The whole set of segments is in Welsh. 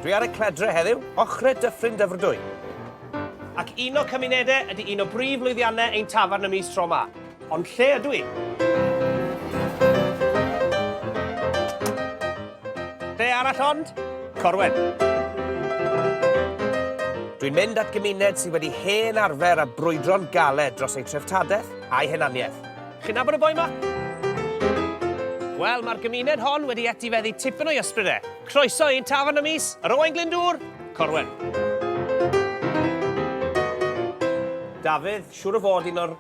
Dwi ar y cledre heddiw, ochre Dyffryn Dyfrdwy. Ac un o cymunede ydy un o brif lwyddianne ein tafarn y mis tro ma. Ond lle ydw i? Lle arall ond? Corwen. Dwi'n mynd at gymuned sydd wedi hen arfer a brwydro'n galed dros eu treftadaeth a'i hunaniaeth. Chi'n nabod y boi ma? Wel, mae'r gymuned hon wedi etifeddu tipyn o'i ysbryd e. Croeso i'n tafarn y mis, yr Owain Glyndŵr, Corwen. Dafydd, siŵr o fod un o'r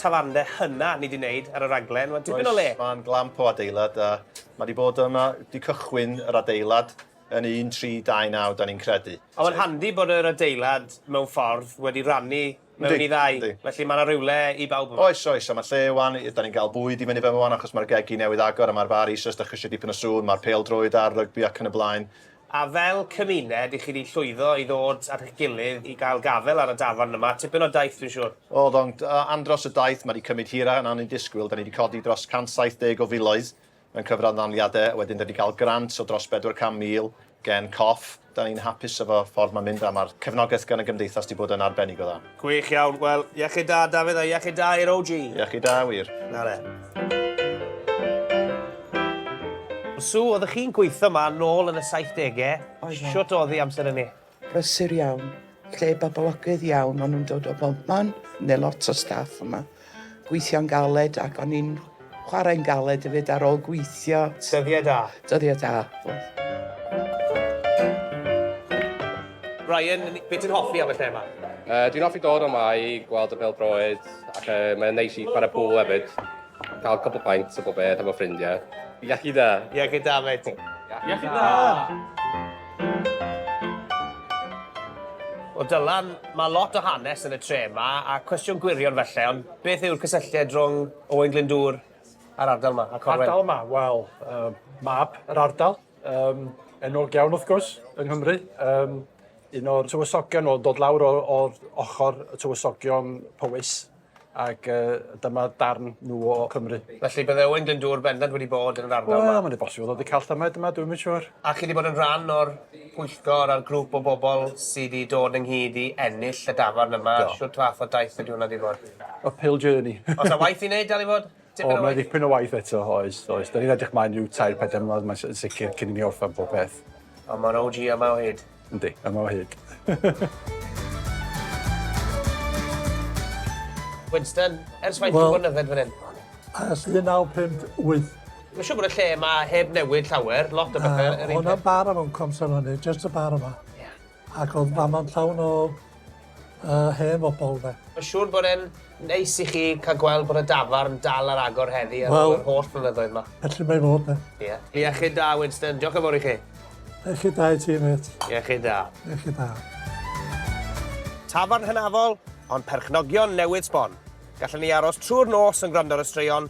tafarndde hynna ni wedi wneud ar y raglen. Mae'n dipyn o le. Oes, mae'n glamp o adeilad a mae wedi bod yma, wedi cychwyn yr adeilad yn 1329, da ni'n credu. A mae'n handi bod yr adeilad mewn ffordd wedi rannu mewn i ddau. Yndi. Felly mae 'na rywle i bawb yma. Oes, oes, a mae lle 'wan, dan ni'n cael bwyd i fyny fama 'wan achos mae'r gegi newydd agor a mae'r far eisoes, dach chi eisiau dipyn o sŵn, mae'r pêl-droed a'r rygbi ac yn y blaen. A fel cymuned, i chi 'di llwyddo i ddod at eich gilydd i gael gafael ar y dafarn yma, tipyn o daith dwi'n siŵr? O, ddo'n andros o daith, mae 'di cymryd hirach na o'n i'n disgwyl, dan ni 'di codi dros 170 o filoedd Mewn cyfranddaliade wedyn 'da ni 'di cael grant o dros bedwar can mil gen coff. 'Da ni'n hapus efo ffordd ma'n mynd a ma'r cefnogaeth gan y gymdeithas 'di bod yn arbennig o dda. Gwych iawn, wel, iechyd da Dafydd a iechyd da i'r OG! Iechyd da, wir. Na le. Sue, oeddech chi'n gweitho 'ma nôl yn y saithdege, shwt odd 'i amser ynny? brysur iawn, lle boblogydd iawn, o'n nhw'n dod o bobman, neu lot o staff yma, gweithio'n galed ac o'n i'n chwarae'n galed hefyd ar ôl gweithio. Dyddiau da. Dyddiau da, oedd. Ryan, beth ti'n hoffi am y lle yma? Uh, dwi'n hoffi dod yma i gweld y bêl-droed ac uh, mae'n neis i chwarae pŵl hefyd. Cael cwpl pints a popeth efo ffrindiau. Iechyd da! Iechyd da, mate. Iechyd da! Wel Dylan, mae lot o hanes yn y tre yma, a cwestiwn gwirion felly, ond beth yw'r cysylltiad rhwng Owain Glyndŵr a'r ardal yma, a Corwen? Ardal yma? Wel, uh, mab yr ardal, um, enwog iawn wrth gwrs, yng Nghymru. Um, un o'r tywysogion oedd dod lawr o'r ochr y tywysogion Powys ac uh, dyma darn nhw o Cymru. Felly bydde Owen Glyndŵr bendant wedi bod yn yr ardal yma? Wel, mae'n bosib oedd wedi cael llymed yma, dwi'n mynd siwr. A chi wedi bod yn rhan o'r pwyllgor a'r grŵp o bobl sydd wedi dod ynghyd i ennill y dafarn yma? Do. Siwr fath o daith ydy hwnna wedi bod? Uphill journey. Os a waith i wneud, dal i fod? O, mae ddipyn o waith eto, oes, oes. Da ni'n edrych mlaen rhyw tair, pedem mlynedd, mae'n sicr, cyn i ni orffen pob peth. Ond mae'r OG yma o hyd. Yndi, yma o hyd. Winston, ers faint well, o bod yn yfed fan hyn? Ers 1958. Mae'n siŵr bod y lle yma heb newid llawer, lot o bethau. Uh, Hwna'n bar am o'n comser hynny, just y bar yma. Yeah. Ac oedd Mama'n llawn o yy hen fobol 'de. Mae'n siŵr bod e'n neis i chi cael gweld bod y dafarn dal ar agor heddi ar ôl yr holl flynyddoedd 'ma. Felly mae fod 'de. Ie. Iechyd da Winston, diolch yn fawr i chi. Iechyd da i ti mêt. Iechyd da. Iechyd da. Tafarn hynafol, ond perchnogion newydd sbon. Gallen ni aros trwy'r nos yn gwrando ar y straeon,